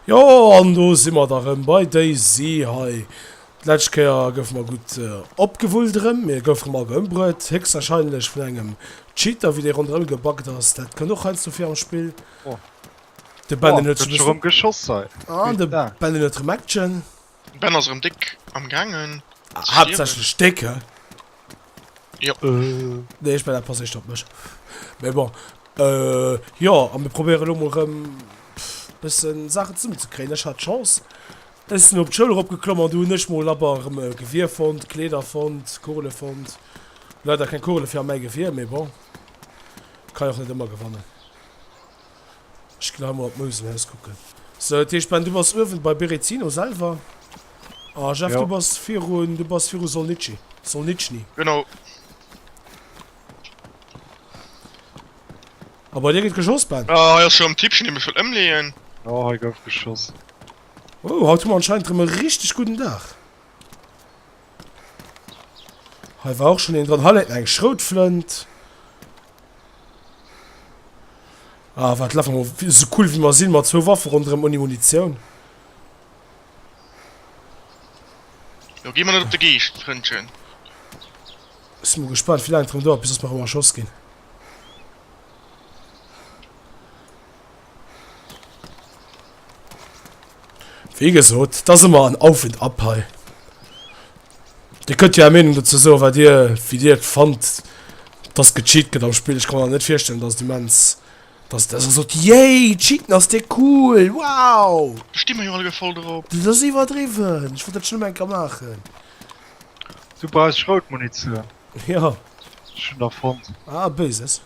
Jo an do si mer da rëm bei Daisy hei. D'lescht Kéier goufe mer gutt opgewullt erëm. Mir goufe rëm awer ëmbruet, héchstwarscheinlech vun engem Cheater, wéi dee ronderëm gebuggt ass. Dat kënnt och heiansdo vir am Spill. De Ben, deen huet scho rëm Action. Ben ass erem déck am gaangen ze stierwen. Haaptsächlech déck, hä? Jo. Nee, ech mell dat passéicht op mech. Mee bon, jo, a mir probéieren elo mol erëm bëssen Saachen zesummen ze kréien. Ech hat d'Chance, ech sinn op d'Schoul erop geklomm an do hunn ech mol abber erëm e Gewier fonnt, Kleeder fonnt, Kugele fonnt. Leider keng Kugele fir a mäi Gewier, mee bon, kann jo och net ëmmer gewannen. Ech gin awer op d'Mouselhaus kucken. Sou, dat heescht Ben, du bass uewen bei Berezino selwer. A Jeff, du bass virun, du bass viru Solnici, Solnitschny. Genau. A bei dir gët geschoss, Ben? Ah, hei ass scho am Tippchen, dee mech wëll ëmleeën. Jo, hei gouf geschoss. Oh, haut hu mer anscheinend rem e richteg gudden Dag. Hei war och schon een dran. Hei läit nach eng Schroutflënt. Ah, wat lafen wir mal so cool wie wir sinn mat zwou Waffen ronderem ouni Munitioun. Jo, gi mer net op de Geescht, Frëndchen. Sinn mol gespannt wie laang et rem dauert bis dass mer rem erschoss ginn. Wie gesot, dass immer an Auf und Ab hei. Dir könnt jo är Meenung dazu so, wat dir, wie dir fand, dass gecheat gëtt am Spiel. Ich kann mir net virstellen, dass die Mens, dass das so, yay, cheaten ass de cool, wow. Do sti mer jo alleguer voll drop. Das ass iwwerdriwwen, ich wollt dat schon ëmmer eng Kéier maachen. Du brauchs Schroutmunition. Ja. Schon der fonnt. Ah, Böses.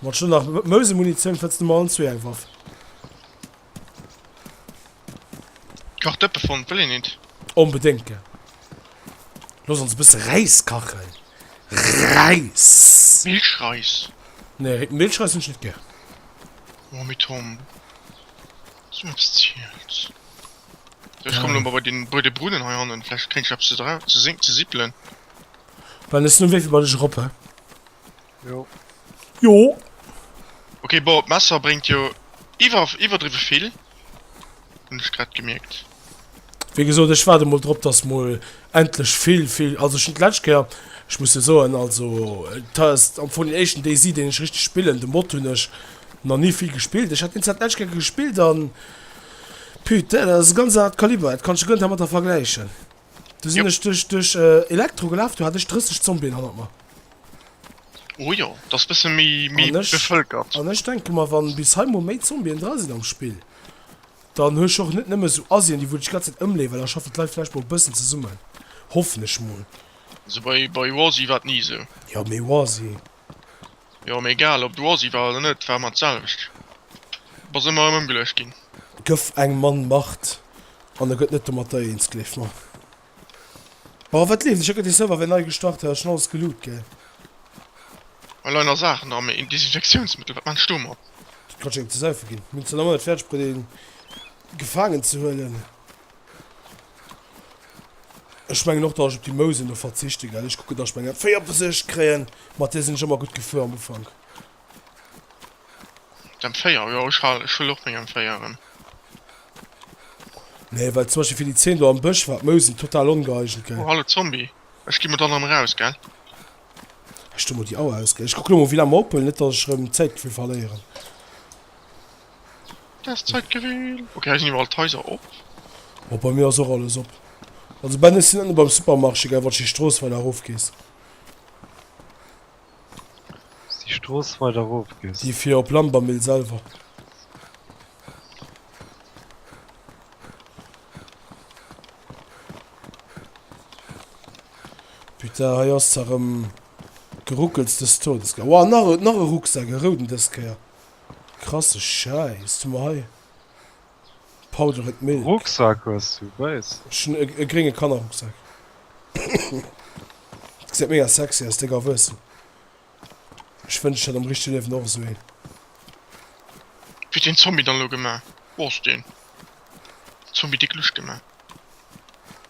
Mat schon nach Mose Munition fëtzt du mal an zwee eng Waff. Kach Dëppe fond wëll een nit. Onbedéngt gär. Looss ons e bësse Räis kachen. Räis! Milchreis. Nee, Ri Milchreis hunn ech net gär. Oh mee Tom, dass du mer eppes ziels. So, ech kommen elo mol bei den, bei de Brunnen hei hannen, vläicht kréien ech eppes ze dra, ze sing, ze sippelen. Well, ech sinn um Wee fir bei dech erop, he. Jo. Jo. Okay, boah, Messer bringt jo iwwer iwwerdriwe vill. Hun ech grad gemierkt. Wie gesot ech warte mol drop, dass mol endlech vill vill also schon d'letzt Kéier ech muss jo soen also test am vun den éischten DayZ deen ech richteg spillen de Mod hunn ech nach ni vill gespillt. Ech hat deen zwar d'letzt Kéier gespillt an putain dat ass e ganz anert Kaliber dat kanns de guer net dermatter vergläichen. Du sinn ech duerch duerch Elektro gelaf, du hat ech 30 Zombien hannert mer. Oh jo, dat ass bësse méi méi bevëlkert. An ech denke mer, wann bis hei mol méi Zombien dra sinn am Spill, dann hu ech och net nëmme sou Asien, déi wou dech d'ganz Zäit ëmleeën, well da schaffen d'Leit vläicht mol e bëssen zesummen, hoffen ech mol. Also bei bei Warzy war et ni esou. Jo, mee Warzy. Jo, mee egal ob du Ossi war oder net, war ëmmer d'selwecht. Du bass ëmmer erëm ëmgeluecht ginn. Gëff eng Mann Macht an da gëtt net domatter eens, gleef mer. Bon, wat leeft? Ech hu grad de Server wéi nei gestart, dat ass schonn alles geloot, gell? Hei leien nach Saachen dran, mee een Desinfektiounsmëttel, wat maachen ech domat? Dat kann ech engem ze saufe ginn. Mir hunn zwar nach ëmmer net fäerdeg bruet, een gefaangen ze huelen. Ech mengen och, dass ech op déi Mousen do verzichte gell. Ech kucken, dass ech meng M4 op der Sicht kréien. Mat där sinn ech ëmmer gutt gefuer am Ufank. D'M4, jo, ech hal, ech huel och meng M4 erëm. Nee, well zum Beispill fir déi Zeen do am Bësch war d'Mousen total ongeeigent gell. Oh, hallo Zombie. Ech gi mol dann erëm eraus, gell. Ech du mol déi Au aus, gell. Ech kucke lo mol, wéi laang mer ophuelen, net dass ech erëm Zäitgefill verléieren. Oh bei mir ass och alles op. Also Ben ech sinn ënne beim Supermarché gell wann s de Strooss weider erof gees. Déi fir op Lambermill selwer. Putain hei ass se erëm geruckels des Todes gell. Wouah nach e nach e Rucksak, e rouden dës Kéier. Krasse Schäiss, hu mer hei Powdered Milk. Rucksak hues du, wéis? Ech hunn e grénge Kannerrucksak. Gesäit mega sexy aus, déck a wuessen. Ech wënscht ech hätt am richte Liewen och esou een. Wéi huet deen Zombie dann elo gemaach? Boah ass deen Zombie déck lusch gemaach.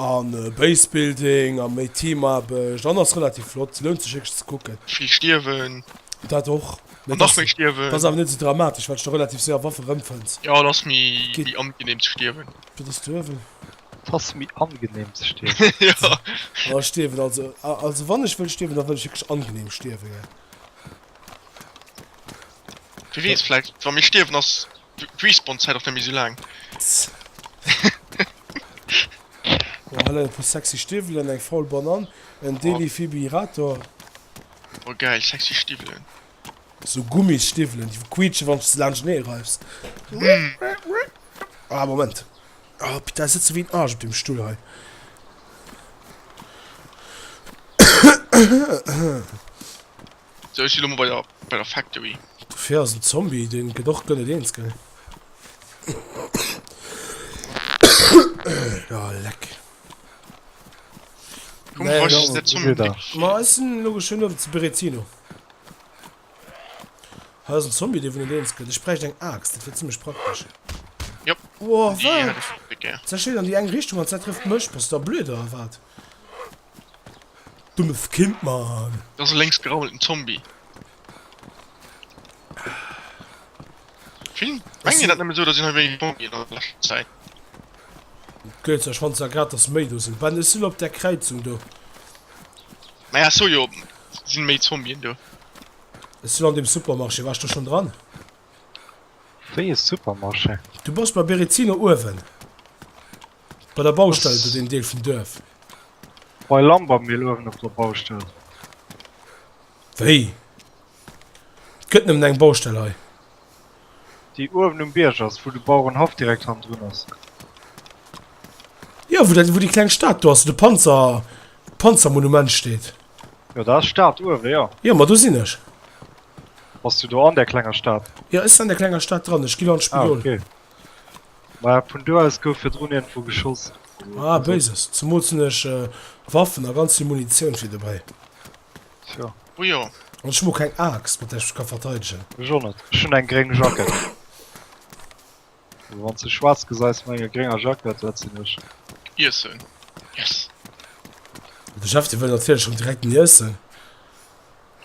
An base building an méi teamaarbecht an ass relativ flott, lount sech wierklech ze kucken. Vill stierwen. Dat och, mee dat ass awer net esou dramatesch well s de relativ séier Waffe rëmfënns. Jo, et ass méi angeneem ze stierwen. Wat ass do ewell? Et ass méi angeneem ze stierwen. Jo. Ech stierwen also, also wann ech wëll stierwen, da wëll ech wierklech angeneem stierwen. Wie weess, vläicht wa mir stierwen ass D'Respawn Zäit ass net méi sou laang. Oh hei leien e puer sexy Stiwwelen an eng faul Banann, en Delifibrillator. Oh geil, sexy Stiwwelen. Sou Gummisstiwwelen déi quiitschen wann s de laanscht nee reifs. Ah Moment. Oh putain ech sëtze wéi en Arsch op deem Stull hei. Sou ech si lo mol bei der Factory. Dofir ass en Zombie, deen gëtt och gëllet eens gell? Oh leck. Komm mir bräuchten der Zombie Bléck fir. Ma ech sinn elo geschwënn ower zu Berezino. Hei ass en Zombie dee vun net eens gëtt. Ech bräicht eng Aaxt, dat wier zimlech praktesch. Jop, déi hat ech och net gär. Zerscheet an déi eng Richtung an d'Zäit trëfft mech. Bass du da blöd oder wat? Dummes Kind man! Et ass e lénks geraumelten Zombie. Vill mengen jo dat nëmmen esou, dass een hei wéineg Zombien ass an der leschter Zäit. Gëlz, ech fannt zwar grad dass méi do sinn. Ben, ech sinn op där Kräizung do. Naja, ech sou jo, et sinn méi Zombien do. Ech sinn an deem Supermarché. Waars de schonn dran? Wéi e Supermarché! Du bass bei Berezino uewen bei der Baustell oder deem Deel vum Duerf? Bei Lambermesle uewen op der Baustell. Wéi? Et gëtt nëmmen eng Baustell hei? Déi uewen um Bierg ass, wou de Bauerenhaff direkt hannendrun ass. Jo, wou dat, wou déi kleng Stad do ass, wou de Panzer, d'Panzermonument steet. Jo, dat ass Stad uewen, jo. Jo, ma do sinn ech. Bass du do an där klenger Stad? Jo, ech sinn an der klenger Stad dran. Ech ginn an d'Spidol. Ah, ok. Mä vun do aus gouf virdrun iergendwou geschoss. Ah, Béises. Zemools hunn ech Waffen a ganz vill Munitioun fir dobäi. Tjo. Oh jo. An ech hunn och keng Aaxt, mat där ech mech ka verteidegen. Ech och net. Ech hunn eng gréng Jackett. Wanns de schwarz geseis mat enger grénger Jackett, dat sin ech. Iessen. Yes! De Chef de wëll natierlech rem direkt den Iessen.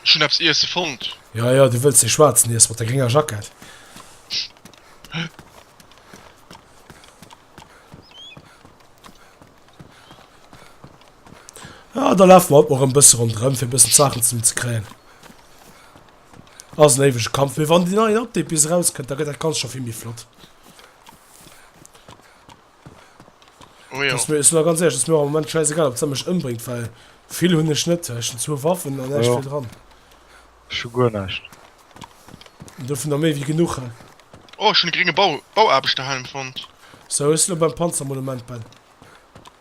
Ech hun eppes Iessen fonnt. Ja, ja, du wëlls dee schwarzen Iessen mat der grénger Jackett. Ja, da laf mer haut mol rem bëssen rondrem fir bëssen Saachen zesummen ze kréien. Ass en éiwege Kampf, mee wann déi nei Update bis eraus kënnt, da gëtt dat Ganzt scho vill méi flott. Oh jo. Ass mir, ech soen ganz éierlech, ass mir och am Moment schäisegal, ob se mech ëmbréngt, well vill hunn ech net. Ech hunn zwou Waffen an näischt vill dran. Ech hu guer näischt. An du vun der méi wéi genuch. Oh, ech hunn e grénge Bau, Bauaarbechterhelm fonnt. Sou, ech sinn elo beim Panzermonument, Ben.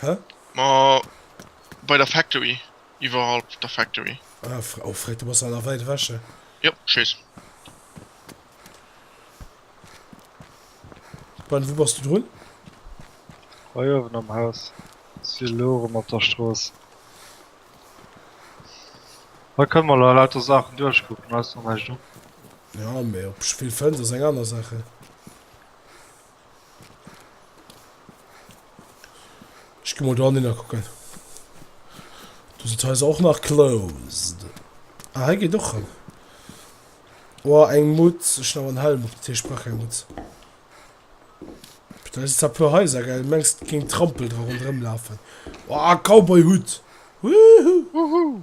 Hä? Ma bei der Factory, iwwerhalb der Factory. Ah, fr oh, Fred, du bass awer nach wäit ewech, hä? Jo, ech weess. Ben, wou bass du drun? Hei uewen am Haus. Si elo erëm op der Strooss. Hei kënne mer elo lauter Saachen duerchkucken, ausser näischt op. Jo, mee op Spillfënns ass eng aner Saach, hä? Ech geh mol do anner kucken. Du si Häiser och nach closed. Ah, hei geet och ran. Oh, eng Mutz. Ech hun awer en Helm op, dat heescht, ech brauch keng Mutz. Putain, si zwar puer Häiser, gell? Mengs, et géing Trampel dra ronderëm lafen. Oh, Cowboy-Hutt! Woohoo! Woohoo!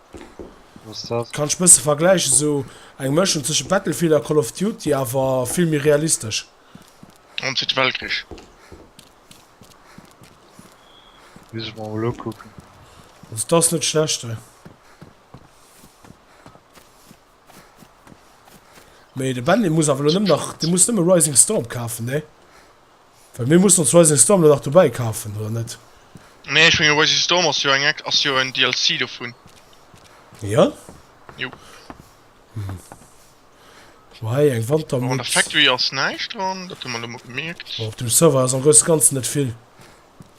Kann ech bësse vergläichen, sou eng Mëschung zwëschen Battlefield a Call of Duty, awer vill méi realistesch. An zweete Weltkrich. Muss ech mer mol ukucken. Also et ass net schlecht hei. Mee de Ben dee muss awer elo nëmmen nach, dee muss nëmmen Rising Storm kafen, nee? Well mir mussen ons Rising Storm dann nach dobäi kafen, oder net? Nee, ech mengen Rising Storm ass jo eng ex ass jo en DLC dovun. Jo? Jo. Hm. Hu hei eng Wantermütz. An der Factory ass näischt dran, dat hu mer elo mol gemierkt. Op dem Server ass am grousse Ganzen net vill.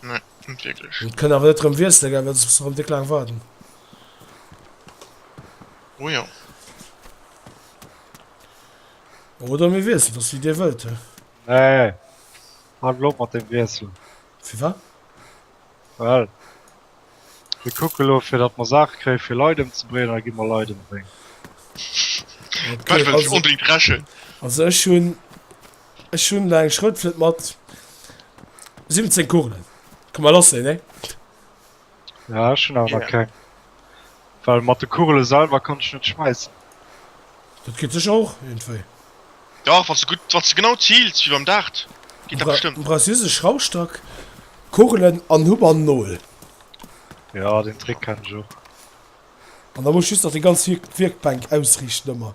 Nee, net wierklech. An et kënn awer net erëm wiessele gell, well soss muss erëm déck laang waarden. Oh jo. Oder mir wiesselen, dat ass wéi Dir wëllt. Nee, handel op mat dem Wiessel. Firwat? Well mir kucke elo, fir datt mer Saache kréie fir Leit ëmzebréngen, a da gi mer Leit ëmbréngen. Wat wëllt Dir onbedéngt dreschen? Also ech hunn, ech hunn elo eng Schroutflënt mat 17 Kugelen. Ka mer loossen, nee? Ja ech hunn awer nach keng. Well mat de Kugele selwer kann ech net schmeissen. Dat geet sécher och iergendwéi. Dach, wann s de gutt, wann s de genau ziils wéi beim Dart, geet dat bestëmmt. Du brauchs just e Schraufstack, Kugelen an Hupp an Nol. Ja, deen Trick kennen ech och. An da muss just nach déi ganz Wierkbänk ausriichten ëmmer.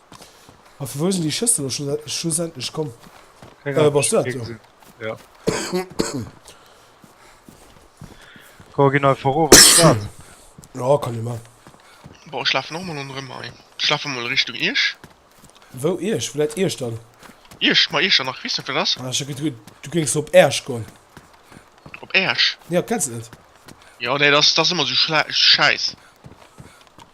A vu wou sinn déi Schëssel elo schlussendlech komm? Keng Ahnung, ech hunn kee gesinn. Jo. Komm, ginn einfach erof an d'Stad. Jo, kann ee maachen. Bon, ech lafen och emol ronderëm hei. Ech lafen emol Richtung Ierch. Wou Ierch? Wou läit Ierch dann? Ierch? Ma Ierch an nach Wiss net, wat ass? Ah, ech hat geduet, du géings op Aersch goen. Op Aersch? Jo, kenns et net? Jo, nee, dat ass, dat ass ëmmer esou schlä, schäiss.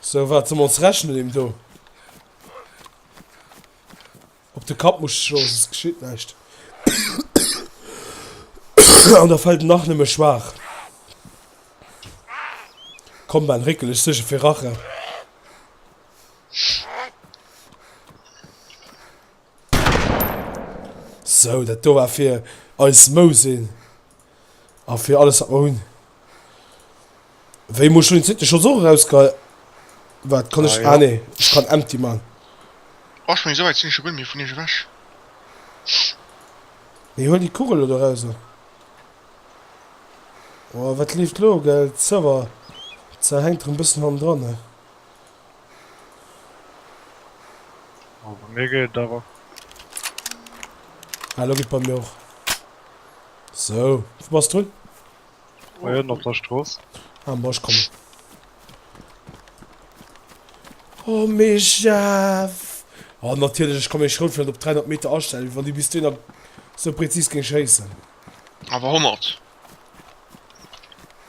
So wat soll mer ons rechnen dem do op de Kapp muss schloen, soss geschitt näischt. An da fällt en nach nëmme schwaach. Komm Ben, réckel dech sécher fir Rache. So, dat do war fir eis Mousin. A fir alles wat mer hunn. Wéi muss ech elo deen zweete Schotz och erausgehei. Waart, kann ech. Ah nee, ech kann empty man. Oh, ech mengen esou wäit sinn ech jo guer net méi vun iech ewech. Mee huel déi Kugel elo do eraus. Oh, wat leeft elo? Gell, d'Server Zahl hänkt erëm bëssen hannendran. Oh, bei mir geet et awer. Ah, lo geet bei mir och. So, wou bass du? Bei Hënn op der Strooss. Ah, bon, ech kommen. Oh, mee Jeff! Oh, natierlech, ech ka meng Schroutflënt op 300 Meter astellen, wéi wann déi bis dohinner sou präzis géing schéissen. Awer 100.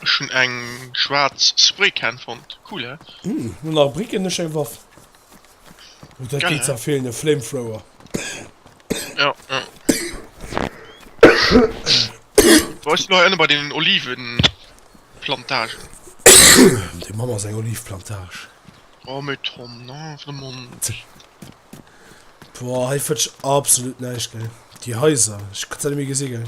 Ech hun eng schwarz Spraycan fonnt, cool hä? Hm, no nach Bricken ech eng Waff. Oh dat geet ja feelen, e Flamethrower. Ja ja. Wou ass no hei ënne bei den Olivenplantagen? Dei Mamm ass eng Oliveplantage. Oh mais Tom non vraiment. Boah hei fënnt ech absolut näischt gell, déi Haiser, ech kann se net méi gesi gell.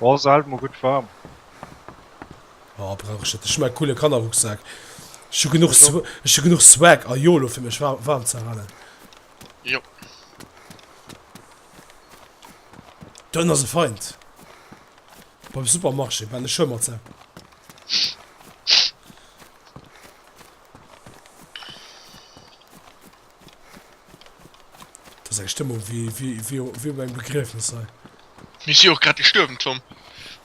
Oh se hält mer gutt waarm. Oh brauch ech net, ech hunn mäi coole Kannerrucksak. Ech hu genuch ech hu genuch Swag a Yolo fir mech waarm ze halen. Jo. D'Ënn ass e Feind. Beim Supermarché war de Schwëmmersak. Dass eng Stëmmung wéi op engem Begriefnes sei. Mir si och grad gestuerwen, Tom,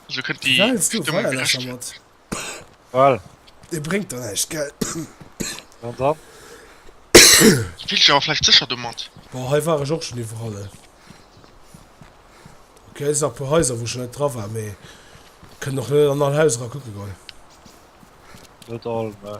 also kënnt déi Stëmmung geläscht ginn. Et bréngt der näischt, gell? An dann? Du fills dech awer vläicht sécher domat? Bon, hei war ech och schonn iwwerall. Ok, et sinn nach e puer Haiser, wou ech scho net dra war, mee kënnen och net an all Haus erakucke goen. Net all, mä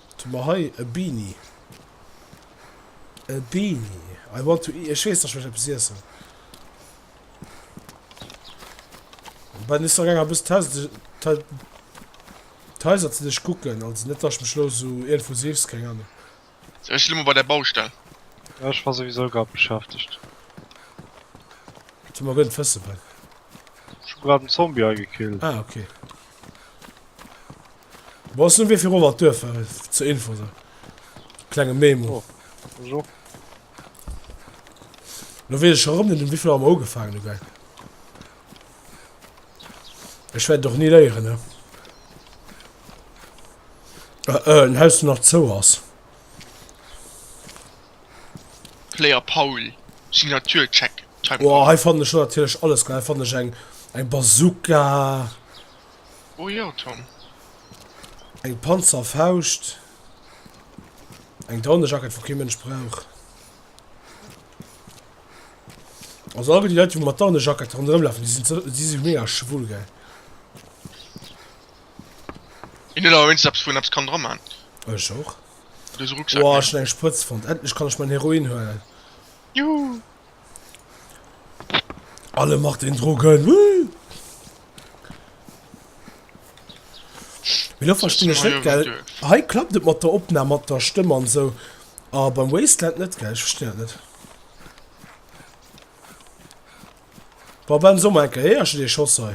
Wat hu mer hei? E Beanie. E Beanie. I want to eat. Ech weess nach, ech mécht eppes iessen. Bei den Easter Egger bis d'Häuser ze duerch kucken. Also net datt ech mech lo sou iergendwou seefs. Keng Ahnung. Sou ech si lo mol bei der Baustell. Jo ech war souwisou grad beschäftegt. Wat hu mer? Gëtt et Fëssebänk? Ech hu grad en Zombie agekillt. Ah ok. Bon, ech soen wéi virun mat Duerf war, zur Info esou. Klenge Memo. Oh, bonjour. Lo wees ech scho rëm net um wéivill Auer mer ugefaangen hu gell. Ech wäert et och ni léieren ne. Äh, äh, en Haus nach zou ass. Player Paul Signature check time Boah, hei fannen ech natierlech alles geil, hei fannen ech eng eng Bazooka, Oh jo Tom. eng Panzerfauscht, eng Daunejacket wou kee Mënsch brauch. Also all déi Leit déi mat Daunejackette ronderëm lafen déi sinn ze déi si mega schwul geil. Een huet awer wéinstens eppes wou een eppes kann dra man. Ech och. Wow, schon eng Sprëtz fand. Endlich kann ich mein Heroin huelen. Juhu. Alle macht den Drogen. Woo. Wie lo verstinn ech net, gell? Hei klappt et mat der Opnam, mat der Stëmm an sou. A beim Wasteland net, gell? Ech verstinn dat net. Boah, Ben, soe mol eng Kéier, héierst du dee Schoss hei?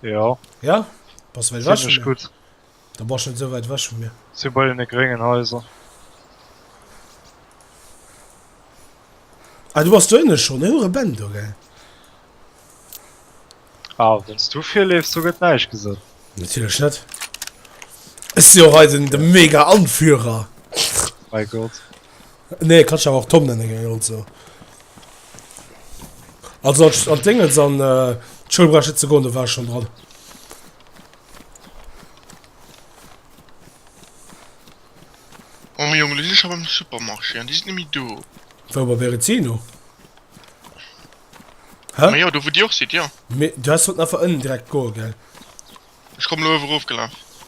Ja. Ja? Bass du wäit wech vun mir? Gut. Da bass net sou wäit wech vun mir. Si bei den gréngen Haiser. Ah, du bass do ënne schonn. Hu re Bänn do, gell? Ah, wann du virleefs, do gëtt näischt gesat. Natierlech net. Ech si och hei den, den Mega-Anführer. Mei Gott. Nee, kanns awer och Tom nennen geng ech also. Also als an d'Déngens an d'Schoul brauch ech net ze goen, do war ech schon dran. Oh mee Jongen, lo sinn ech awer am Supermarché an déi sinn net méi do. Wou bei Berezino? Hä? Ma jo, do wou Dir och sidd, jo. Mee du häss sollten einfach ënnen direkt goe gell. Ech komm lo uewe rof gelaf.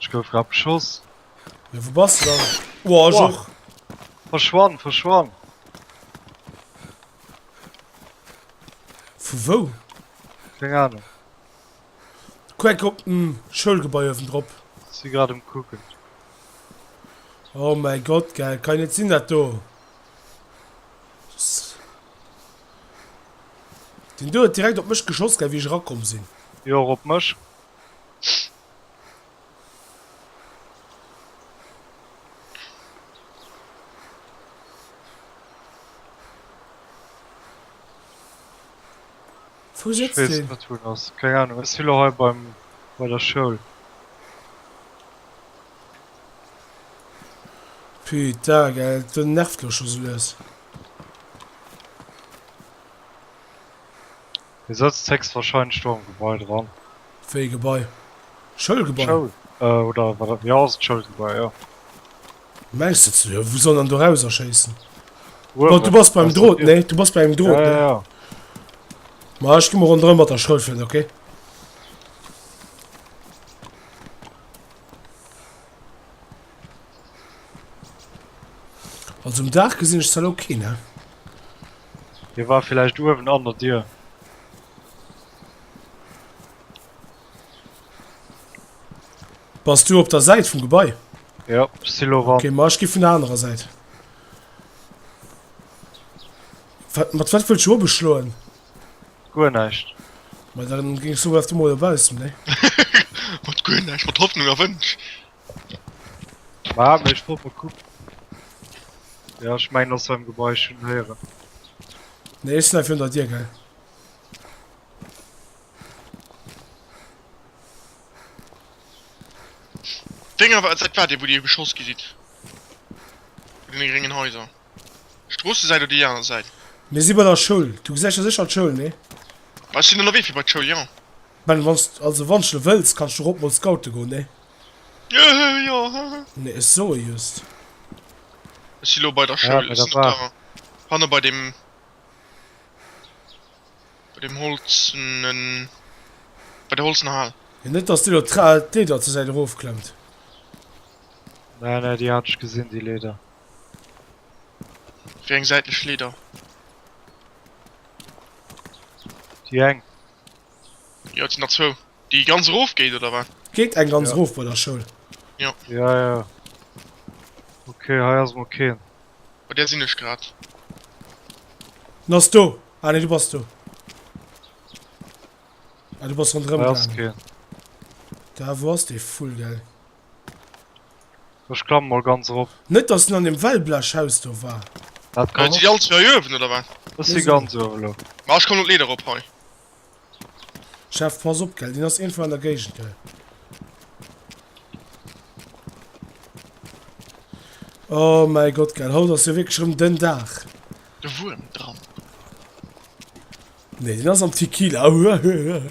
Ech gouf grad beschoss. Jo wou bass de dann? Woah ech och. Verschwann verschwann. Vu wou? Keng Ahnung. Quake op den Schoulgebai owen drop. Si grad um kucken. Oh mäi Gott gell, kann jo net sinn dat do. Den do huet direkt op mech geschoss gell wéi ech erakomm sinn. Jo och op mech. Wou sëtzt deen? Wees net wou en ass, keng Ahnung, e si lo hei beim bei der Schoul. Puta gell, den nervt lo scho sou lues. Hie sëtzt héchstwahrscheinlech do am Gebai dran. Wéi ee Gebai? Schoulgebai? Schoul oder wat dat? Jo, ass d'Schoulgebai, jo. Mäis sëtzen do. Wou soll en dann do rauserschéissen? Uewen. Du bass beim Drot, nee? Du bass bei engem Drot, nee? Ja, ja. Ma ech gi mol ronderëm mat der Schoul fir en, okay? Also um Dach gesinn ech zwar lo keen, ne? Hie war villäicht uewen an der Dier. Bass du op der Säit vum Gebai? Ja, Silo war. Okay, ma ech gi vun der anerer Säit. Wat, mat wat wëll scho beschloen? Guer näischt. Ma dann ging so was du mol baussen, ne? Mat guer näischt, mat Hoffnung a Wënsch. War mech trop mal gucken. Ja, ich mein aus seinem Gebäude schon hören. Nee, ich snipe hinter dir, gell? Dinger war seit war dir, wo dir geschoss gesit. In den geringen Häuser. Stroße seid oder die andere Seite? Mir si bei der Schoul. Du gesäich jo sécher d'Schoul, nee? Ech sinn ënnerwee fir bei d'Schoul, jo. Ben, wann also wann de wëlls, kanns du och op mol scoute goen, nee? Nee, ech soe just. Ech si lo bei der Schoul, ech sinn op der. Hanne bei dem. Bei dem holzenen. Bei der holzener Hal. Mee net, dass déi do d'Leeder zur Säit erofklemmt. Nei, nei, déi hat ech gesinn, déi Leeder. Wéi eng säitlech Leeder? Déi eng. Jo et sinn der zwou. Déi ganz erof geet oder wat? Geet eng ganz erof bei der Schoul. Jo. Ja ja. Ok hei ass mol keen. Bei där sinn ech grad. En ass do. Ah nee du bass do. Ah du bass ronderëm gaangen. Hei ass keen. Da wou ass dee Vull gell? Ech klamme mol ganz erop. Net dass en an dem Wellblechhaus do war. Dat kann Sinn déi all zwou hei uewen oder wat? Ech si ganz uewen elo. Ma ech komm no d'Leeder erop hei. Chef, pass op gell, deen ass iergendwou an der Géigend gell. Oh mäi Gott gell, haut ass jo wierklech erëm den Dag. De Wuerm dran. Nee, deen ass am Tequila. Huehuehueh.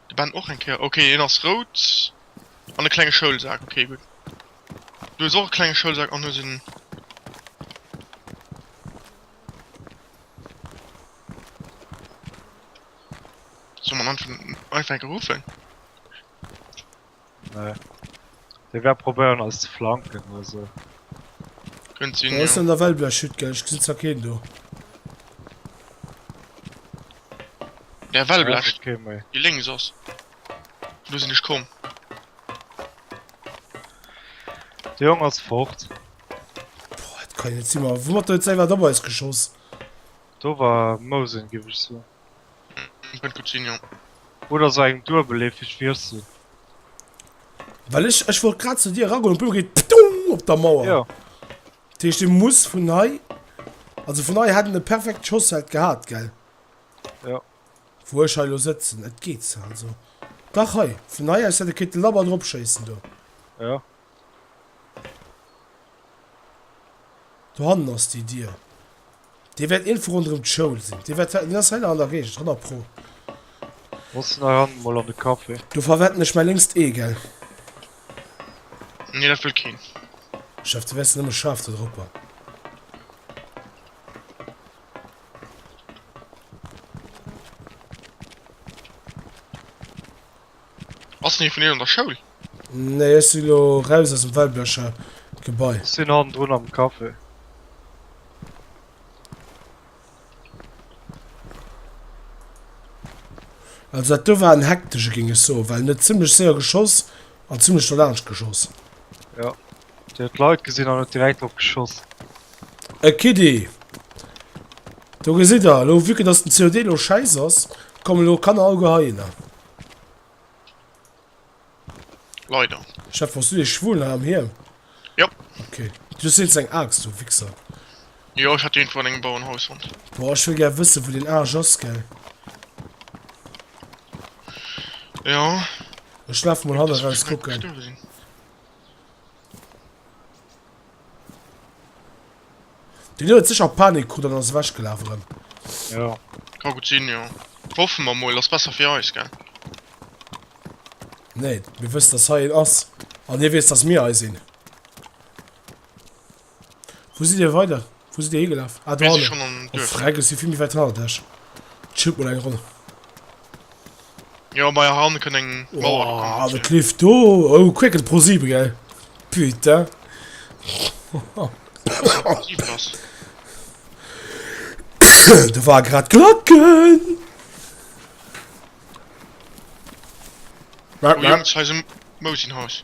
De Ben och eng Kéier. Okay, hien ass rout. An e klenge Schoulsak. Okay, gutt. Du hues och e klenge Schoulsak an hues en. Soll man einfach einfach enke ruffen? Nee. Dee wäert probéieren eis ze flanken oder sou. Kënnt sinn, Wou ass jo. dann der Wellblechhütt, gell? Ech gesinn zwar keen do. Ja, Ja, Wellblech, seet kee méi. déi lénks ass. Vun do sinn ech komm. De Jong ass fort. Boah, dat kann jo net si mar wou huet der jetzt ewert op eis geschoss? Do war Mousen, géif ech soen. Ech mein Coutinho. Oder so eng duebelleefeg Wirsel. Well ech, ech wollt grad zu dir eragoen an du geet ptong op der Mauer. Jo. Dat heescht, dee muss vun hei, also vun hei hätt en e perfekt Schossfeld gehat, gell? Jo. Wou ech hei elo sëtzen, et geet sou, also. Dach, hei, vun hei aus hätt e kéinte labber drop schéissen do. Jo. Dohannen ass déi Dier. Dee wäert iergendwou ronderëm d'Schoul sinn. Dee wäert wäerten, deen ass hei nach an der Géigend, 100 pro. Bass nach an, mol an de Café. Do verwetten ech mäi lénkst Ee, gell? Nee, dat wëll keen. Chef, du wäerts nëmme schaarf do dropper. Ass den ee vun innen an der Schoul? Nee, ech si lo raus aus dem Wellblecher Gebai. Ech sinn hannendrun am Café. Also dat do war en hektesche, géing ech soen, well en huet zimmlech séier geschoss an zimmlech no laanscht geschoss. Jo. Déi huet d'Leit gesinn an huet direkt drop geschoss. E Kiddi! Do gesitt der elo, vue que dass den COD elo schäiss ass, kommen elo Kanner au Geheiner. Leider. Chef, wars du dee Schwulen hei am Hiem? Jo. Ok. Du hues wéinstens eng Aaxt, du Wichser. Jo, ech hat déi irgendwou an engem Bauernhaus fonnt. Boah, ech wëll gär wëssen, wou deen Aarsch ass, gell? Jo. Ech laf mol hanneraus kucken. Den huet sécher Panik krut an ass ewech gelaf erëm. Jo. Ka gutt sinn, jo. Hoffen mer mol, ass besser fir eis, gell? Nee, mir wëssen dass hei een ass an hie weess dass mir hei sinn. Wou sidd dir weider? Wou sidd dir higelaf? Ah, do hannen. Oh, freck, ech si vill méi wäit hannert lech. Schillt mol eng Roll. Jo, mei han kënnt eng Mauer. Oh, ah, de Cliff do. Oh, Quaken pro 7, gell? Putain. da war grad Glocken. Merk, merk. Mosin Haus.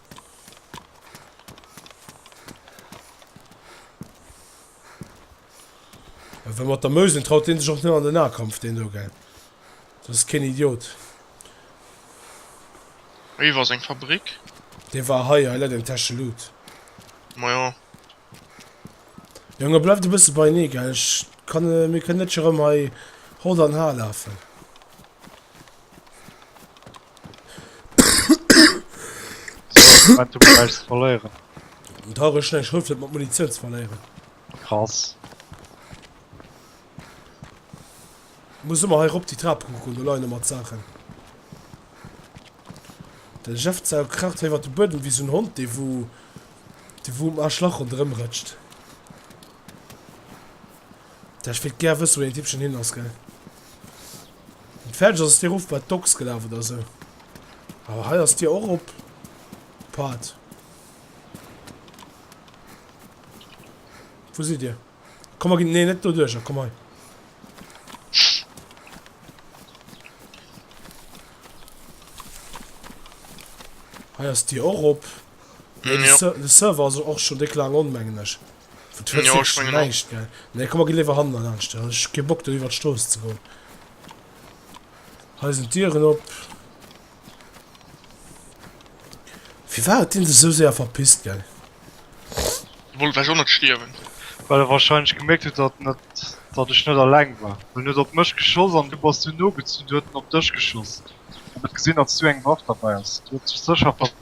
Well mat der Mösen traut deen sech och net an den Nahkampf, deen do, gell? Dat ass keen Idiot. Wéi war seng Fabrik? Dee war hei, hei läit eng Täsche Loot. Majo, Jongen bleift e bësse beinee gell, ech kann mir kënnen net scho rëm hei hott an har lafen. Wat du bleiwst ze verléieren. An d'Har ech nech hëlleft net mat Munitioun ze verléieren. Krass. Muss ëmmer hei rop déi Trap kucken, do leien ëmmer d'Saachen. De Jeff Zau kraacht hei iwwert de Buedem wéi sou en Hond dee wou Déi wou um Aschlach ronderëm rëtscht. Tä ech wéilt gär wësse wou deen Tippchen hin ass gell. An d'Fäerdeg ass ass déi erof bei d'Docks gelaf oder esou. Awer hei ass déi och op Part. Wou sidd Dir? Komm mer ginn nee net do duercher, komm hei. Hei ass d'Dier och op. De Server ass och schon déck laang on, mengen ech. Nee, komm mer ginn léiwer hannen laanscht. Ech hu kee Bock do iwwert d'Strooss ze goen. Hei sinn d'Dieren op. Firwat huet deen sech esou séier verpisst, gell? Wollt ewech och net stierwen. Well e wahrscheinlech gemierkt huet, datt net, datt ech net alleng war. Well en huet op mech geschoss an du bass du nogezunn. Du huet en op dech geschoss an huet gesinn, datt s du eng Waff derbäi ass. Du huet sech sécher verpisst.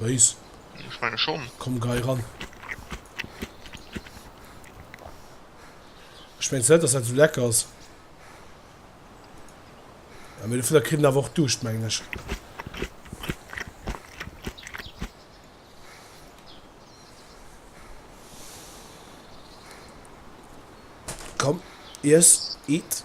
Béis. Ech menge schonn. Komm gei ran. Ech mengs net, dass dat esou lecker ass. Ah, mee dofir da kritt en awer och Duuscht, mengen ech. Komm, iess, eat.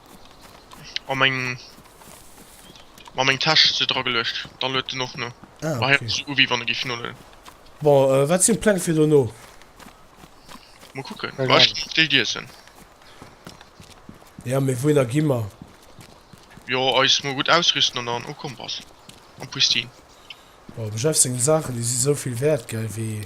An meng Ma meng Täsch se dra geluecht, da luet en och no. Ah, okay. Hei u wéi wann e giff noladen. Bon, euh, wat sinn d'Pläng fir dono? Mol kucken. Ech ginn nach Déi iessen. Ja, mee wouhinner gi mer? Jo, eis mol gutt ausrüsten an dann. Oh, Kompass an Pristin. Bon, dem Jeff seng Saachen, déi si souvill wäert, gell, wéi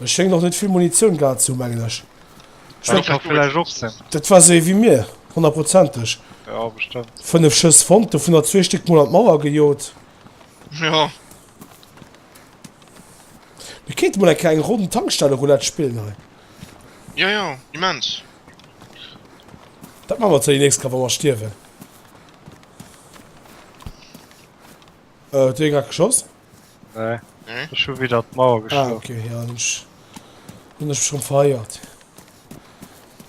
E schéngt och net vill Munitioun gehat ze hu mengen ech. Dat war se ewéi mir 100 prozenteg 5 Schëss fonnt do vun der zwee Stéck mol an d'Mauer gejot. Mir kéint mol eng Kéier eng Ronn Tankstelle Roulette spillen hei. Jo jo immens. Dat man mer zur nächst Kéier wa mer stierwen. Huet do ee grad geschoss? Nee, nee? Ech hu wieder d'Mauer geschloen. Ah, okay, ja, hun ech, hun ech schon vereiert.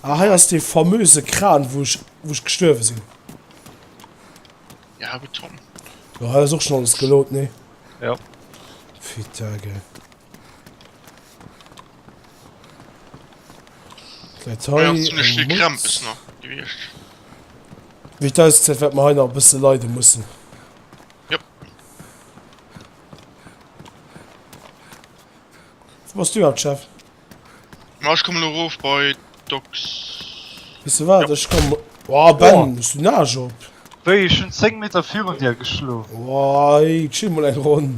Ah, hei ass dee famöse Kran, wou ech, wou ech gestuerwe sinn. Ja, Beton. Ja, hei ass och schon alles geload, nee? Ja. Fitta, gell. Wat hei? Eng Mutz. Wéi et ausgesäit, wäert mer hei nach e bësse leide mussen. Jop. Wou bass du grad, Chef? Ma ech kommen elo erof bei d'Docks. Weess de wat? Ech komme. Wow, Ben, hues du Naasch op? Wéi? Ech hunn 10 Meter virun dir geschlof. Wow, ey, chill mol eng Ronn.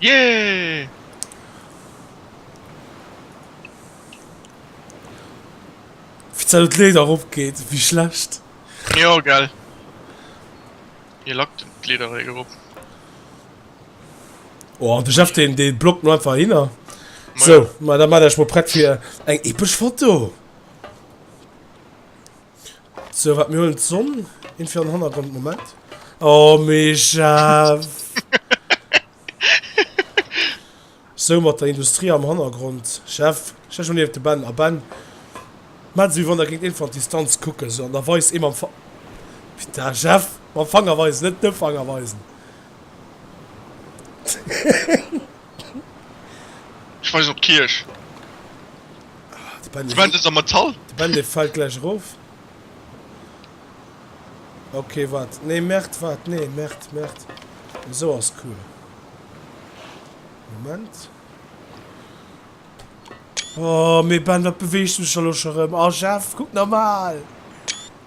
Yeah! Wéi d'Zäit op d'Leeder eropgeet, wéi schlecht! Jo, gell. Hie lackt d'Leeder eréi erop. Oh, de Jeff, deen, dee blockt mer einfach hinner. Ma So, ja. ma da maacht Iech mol prett fir eng epesch Foto! Sou wat mir huelen d'Sonn in fir an Hannergrond Moment. Oh Mischa! Sou mat der Industrie am Hannergrond Chef stell dech mol niewent de Ben a Ben maach et sou wéi wann der géingt een vun der Distanz kucken sou an da weis ee mam Fa Putain Chef mam Fanger weisen net de Fanger weisen. Ech weisen op d'Kierch. De Band ass a Metall. De Band dee fällt gläich erof. Ok wat nee merd wat nee merd merd esou ass cool Moment oh mee Ben wat beweegt mech elo scho rem oh Jeff kuck normal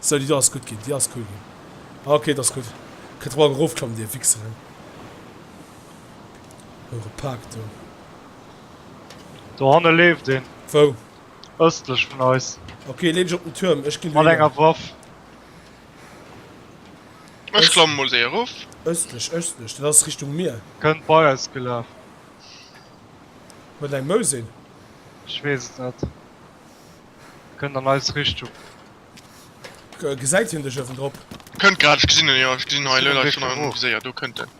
esou déi do ass gutt ginn déi ass cool ginn ok dat ass gutt kënnt der morgen erofklammen dir Wichseren. Eure Park do. Dohanne leeft een. Wou? Östlech vun eis. Okay, leen ech op den Türm. Ech gin. Mat enger Waff. Ech klammen mol séier erof. Östlech, östlech, dat ass Richtung Mier. Kënnt bei eis gelaf. Huet eng Mousin. Ech wees et net. Kënnt an eis Richtung. Gesäit hien dech ewendrop? Kënnt grad, ech gesin en, jo, ech gesin en hei, lol, hei schon en, séier, do kënnt en.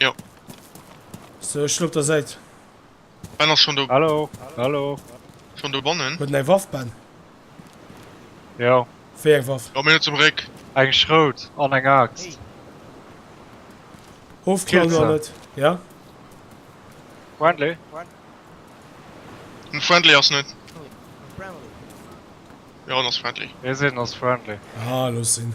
Jo. So, ech sinn op der Säit. Ben ass schon do. Hallo, hallo. Schon do bannen? Huet en eng Waff, Ben? Jo. Wéi eng Waff? Komm hinner zum Réck. Eng Schrout an eng Axt. Ofklauen oder net? Ja. Friendly? Den Friendly ass net. Jo, en ass friendly. Ee seet en ass friendly. Ah, looss sinn.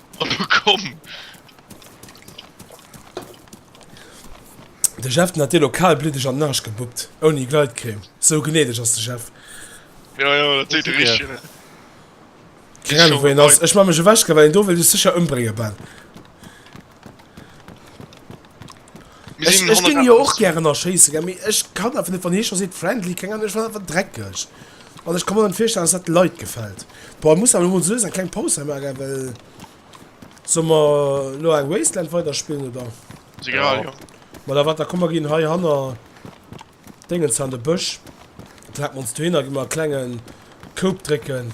Hallo komm! De Jeff den hat dir lo kalbliddeg an den Arsch gebuppt, ouni Gleitcreme. Sou gnädeg ass de Jeff. Jo jo, dat seet de richtegen, ne? Keng Ahnung wou hien ass, ech man mech ewechgehen well hien do wëll dech secher embréngen, Ben. Mir sinn 100 Autos. Ech ginn jo och gären erschéisse, gell, mee ech kann einfach net, wann hie scho seet friendly, keng Ahnung, ech fannen dat einfach dreckeg an ech ka mer net virstellen, dass dat de Leit gefält. Boah, ech muss awer elo mol suergsam eng kleng Paus hei maachen, well. Solle mer elo eng Wasteland weiderspillen, oder? Si grad, jo. Ma da, wat, da komm mer ginn heihanner. Dengen ze han de Bësch trap mer ons dohinner gi mer e klengen Koup drécken.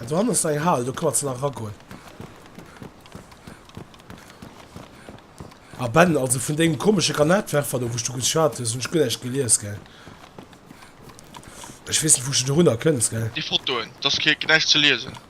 Ah dohannen ass nach eng Hal do kann mer ze nach eragoen. Ah Ben also vun dengem komesche Granatwerfer do wou s du geschwat hues hun ech guer näischt gelies gell. Ech weess net wou s du dorunner kënns gell. Déi Fotoen, dass kee näischt ze liesen.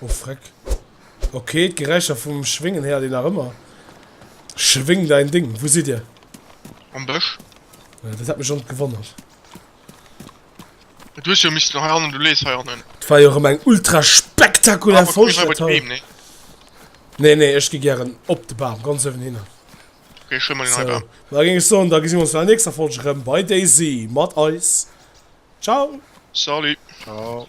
Oh freck. Ok, d'Geräischer vum Schwéngen héiert een nach ëmmer. Schwéng däin Ding. Wou sidd dir? Am Bësch. Ja, dat hat mech schon gewonnert. Du hues jo missten heiannen, du lees heiannen. Et war jo rem eng ultra spektakulär Folg dat hei. Nee nee ech gi gären op de Bam ganz uewen hinner. Ok ech huel mer deen hei Bam. Sou da ging ech soen da gesi mir ons bei der nächster Folg rem bei Daisy mat eis. Ciao. Salut. Ciao.